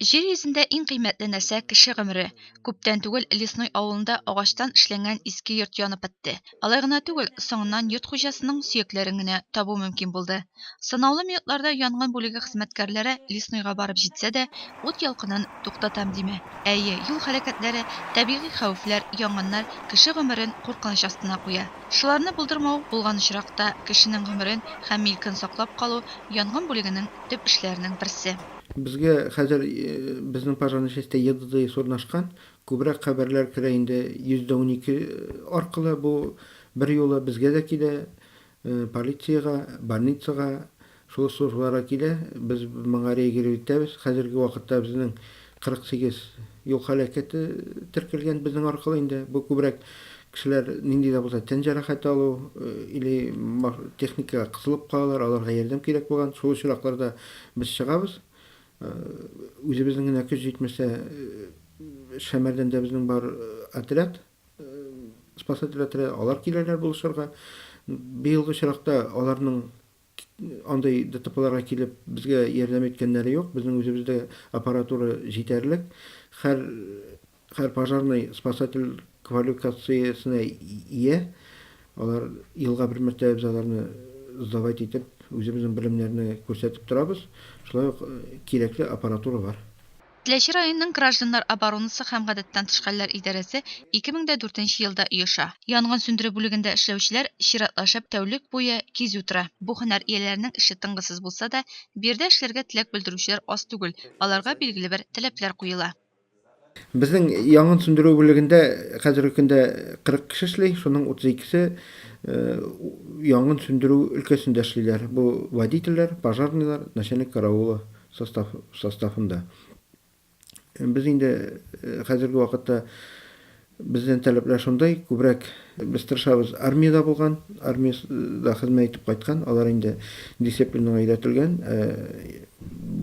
Җир йөзендә иң кыйммәтле нәрсә кеше гомере. Күптән түгел Лесной авылында агачтан эшләнгән иске йорт янып бетте. Алай гына түгел, соңыннан йорт хуҗасының сөякләрен генә табу мөмкин булды. Санаулы минутларда янгын бүлеге хезмәткәрләре Леснойга барып җитсә дә, ут ялкынын туктатам димә. Әйе, юл һәлакәтләре, табигый хәвефләр, янгыннар кеше гомерен куркыныч астына куя. Шуларны булдырмау, булган очракта, кешенең гомерен һәм милкен саклап калу янгын бүлегенең төп эшләренең берсе. Безгә хәзер безнең пожарный частьтә ЕДДИС урнашкан, күбрәк хәбәрләр керә инде 112 аркылы, бу берьюлы безгә дә килә, полициягә, больницага, шул службаларга килә, без моңа реагировать итәбез. Хәзерге вакытта безнең 48 юл һәлакәте теркәлгән безнең аркылы инде, бу күбрәк Кешеләр нинди дә булса тән җәрәхәте алу или техникага кысылып калалар, аларга ярдәм кирәк булган шул очракларда без чыгабыз. Үзебезнең генә көч җитмәсә, Шәмәрдәндә безнең бар отряд, спасатель отряды, алар киләләр булышырга. Быелгы очракта аларның андый ДТПларга килеп, безгә ярдәм иткәннәре юк. Безнең үзебездә аппаратура җитәрлек. Һәр һәр пожарный спасатель квалюкациясенә ия. Алар елга бер мәртәбә без аларны сдавать итеп, үзебезнең белемнәрне күрсәтеп торабыз. Шулай ук кирәкле аппаратура бар. Теләче районының гражданнар оборонасы һәм гадәттән тыш хәлләр идарәсе ике мең дә дүртенче елда оеша. Янгын сүндерү бүлегендә эшләүчеләр чиратлашып тәүлек буе кизү тора. Бу һөнәр ияләренең эше тынгысыз булса да, биредә эшләргә теләк белдерүчеләр аз түгел, аларга билгеле бер таләпләр куела. Безнең янгын сүндерү бүлегендә хәзерге көндә 40 кеше эшли, шуның 32 се янгын сүндерү өлкәсендә эшлиләр, бу водительләр, пожарныйлар, начальник караула состав составында. Без инде хәзерге вакытта бездән таләпләр шундай, күбрәк без тырышабыз армиядә булган, армиядә хезмәт итеп кайткан, алар инде дисциплинага өйрәтелгән,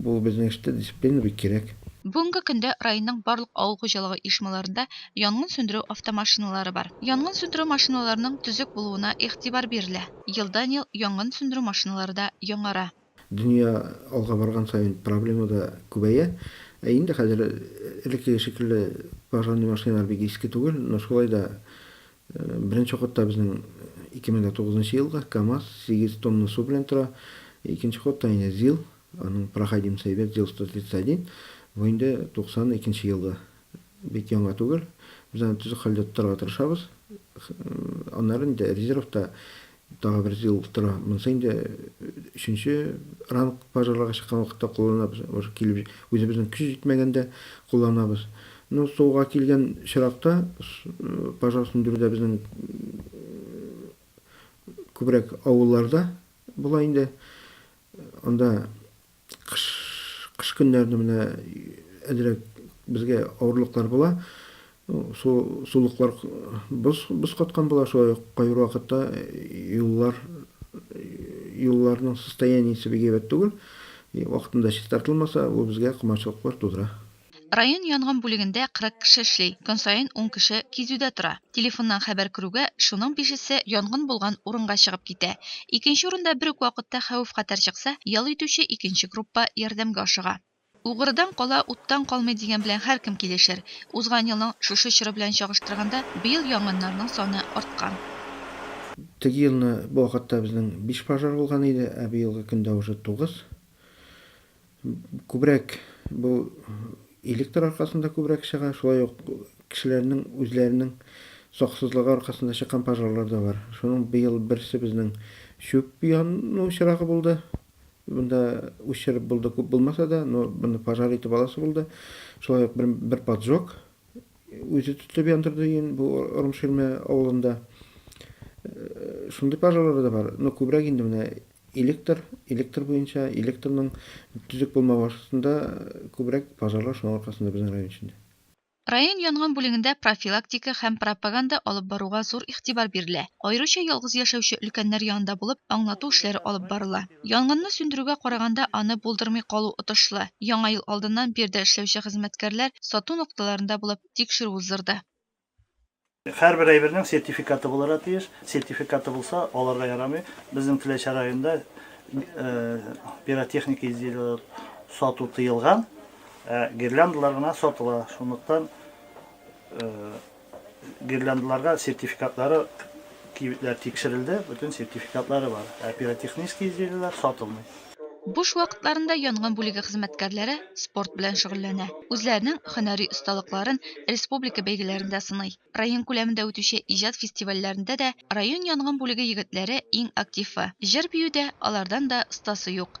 бу безнең эштә дисциплина бик кирәк. Бүгенге көндә районның барлык авыл хуҗалыгы оешмаларында янгын сүндерү автомашиналары бар. Янгын сүндерү машиналарының төзек булуына игътибар бирелә, елдан-ел янгын сүндерү машиналары да яңара. Дөнья алга барган саен проблема да күбәя. Ә инде хәзер элеккеге шикелле пожарный машиналар бик иске түгел, но шулай да беренче ходта безнең 2009 нчы елгы КАМАЗ 8 тонна су белән тора, икенче ходта инде ЗИЛ, аның проходимость әйбәт, ЗИЛ 131, бу инде 92 елгы, бик яңа түгел, без аны төзек хәлдә тотарга тырышабыз, аннары инде резервта Тагы бер ел тора. Монысы инде өченче ранг пожарларга чыккан вакытта кулланабыз. Уже килеп үзебезнең көч җитмәгәндә кулланабыз. Ну, суга килгән чиракта пожар сүндерүдә безнең күбрәк авылларда була инде. Анда Кыш, кыш көннәрендә менә әзрәк безгә авырлыклар була. Су, сулыклар боз, боз каткан була, шулай ук кайбер вакытта юллар, юлларның состояниесе бик әйбәт түгел. Вакытында чистартылмаса, бу безгә комачаулыклар тудыра. Район янгын бүлегендә 40 кеше эшли, көн саен ун кеше кизүдә тора. Телефоннан хәбәр керүгә, шуның бишесе янгын булган урынга чыгып китә. Икенче урында бер үк вакытта хәвеф-хәтәр чыкса, ял итүче икенче группа ярдәмгә ашыга. Угрыдан кала, уттан калмый дигән белән һәркем килешер. Узган елның шушы чоры белән чагыштырганда, быел янгыннарның саны арткан. Теге елны бу вакытта безнең биш пожар булган иде, ә быелгы көндә уже тугыз. Күбрәк бу электр аркасында күбрәк чыга, шулай ук кешеләрнең үзләренең саксызлыгы аркасында чыккан пожарлар да бар. Шуның быел берсе безнең чүп яну очрагы булды. Монда уч чырып булды, күп булмаса да, но моны пожар итеп аласы булды. Шулай ук бер поджог үзе тотып яндырды ин бу Ормширмә авылында. Шундый пожарлары да бар. Но күбрәк инде менә электр, электр буенча, электрның төзек булмавы аркасында күбрәк пожарлар шуның аркасында безнең район эчендә. Район янгын бүлегендә профилактика һәм пропаганда алып баруга зур игътибар бирелә. Аеруча ялгыз яшәүче өлкәннәр янында булып, аңлату эшләре алып барыла. Янгынны сүндерүгә караганда аны булдырмый калу отышлы. Яңа ел алдыннан биредә эшләүче хезмәткәрләр сату нокталарында булып, тикшерү уздырды. Һәрбер әйбернең сертификаты булырга тиеш. Сертификаты булса, аларга ярамый. Безнең Теләче районында пиротехника изделиеләр сату тыелган, ә гирляндалар гына сатыла. Шунлыктан Гирляндаларга сертификатлары кибетләр тикшерелде, бөтен сертификатлары бар, ә пиротехнический изделиеләр сатылмый. Буш вакытларында янгын бүлеге хезмәткәрләре спорт белән шөгыльләнә. Үзләренең һөнәри осталыкларын республика бәйгеләрендә сыный. Район күләмендә үтүче иҗат фестивальләрендә дә район янгын бүлеге егетләре иң активы. Җыр-биюдә алардан да остасы юк.